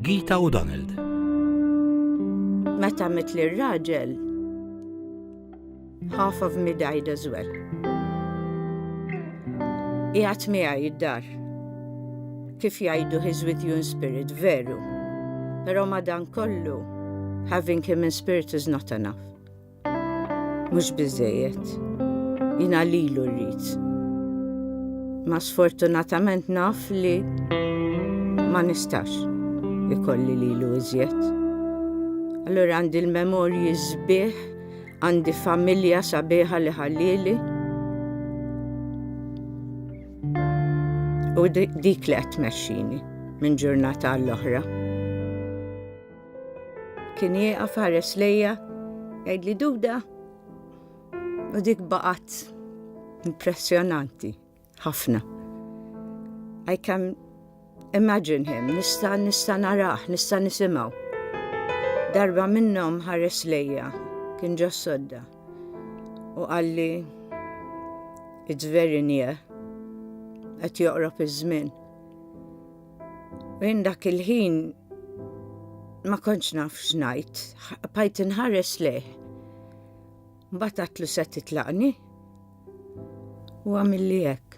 Gita u Donald. Meta mit li raġel half of me died as well. Iħat miħa jiddar. Kif jajdu his with you in spirit, veru. Pero madan kollu, having him in spirit is not enough. Mhux biżejjed. Jiena lilu rrid. Ma sfortunatament naf li ma nistax ikolli lilu iżjed. Allura għandi l-memorji sbieħ, għandi familja sabiħa li ħallili. U dik li qed tmexxini minn ġurnata għall-oħra. Kien jieqaf ħares lejja, jgħidli duda, u dik baqat impressjonanti ħafna. I can imagine him, nista nista naraħ, nista nisimaw. Darba minnom ħares lejja, kien ġo sodda, u għalli it's very near, għet joqrob iż-żmien. Minn dak il-ħin ma kontx naf x'ngħid, bajt inħares leh. Mbagħad għatlu se titlaqni u għamilli hekk.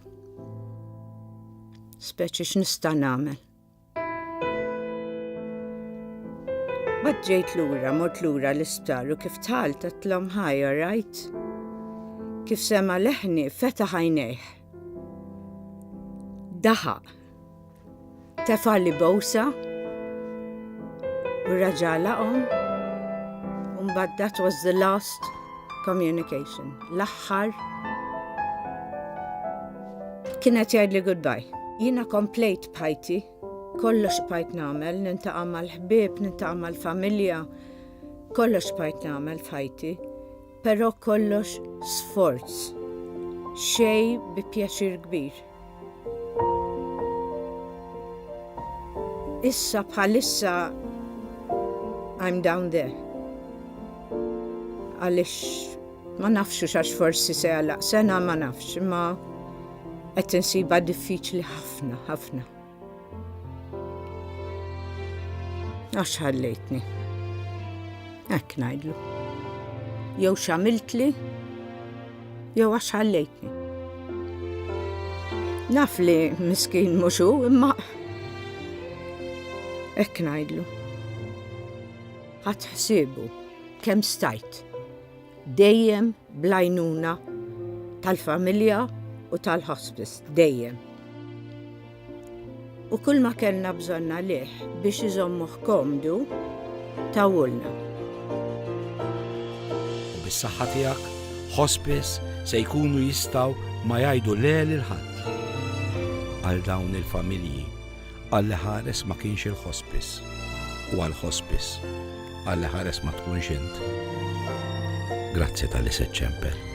Speċi x'nista' nagħmel. Bad ġejt lura, mort lura l-isptar u kif tħal tatlom ħaj, rajt. Kif sema leħni feta ħajnejh. Daħaq. Tefa' li bowsa u raġa' laqhom u mbagħad that was the last communication. L-aħħar kienet jgħidli goodbye. Jiena komplejt bħajti, kollox bħajt nagħmel, nintaqa' mal-ħbieb, nintaqa' mal-familja, kollox bħajt nagħmel f'ħajti. Però kollox sforz, xej bi pjaċir kbir. Issa bħalissa I'm down there. Għalix ma nafxu xax forsi se għalaq sena ma nafx, ma qed insiba diffiċli ħafna, ħafna. Għax ħallejtni. Hekk ngħidlu. Jew x'għamiltli jew għax ħallejtni. Naf li miskin muxu imma Ekk najdlu. Għat ħsibu, kem stajt. Dejjem bl-għajnuna tal-familja u tal-hospice, dejjem. U kull ma kellna bżonn għalih biex iżommuh komdu tawulna. U bis-saħħa tiegħek, hospice se jkunu jistgħu ma jgħidu le lil ħadd għal dawn il-familji Għall-iħares ma kienx il-ħospiss, u għall-ħospiss, għall-iħares ma tkunx int. Grazzi tal-li se ċċempel.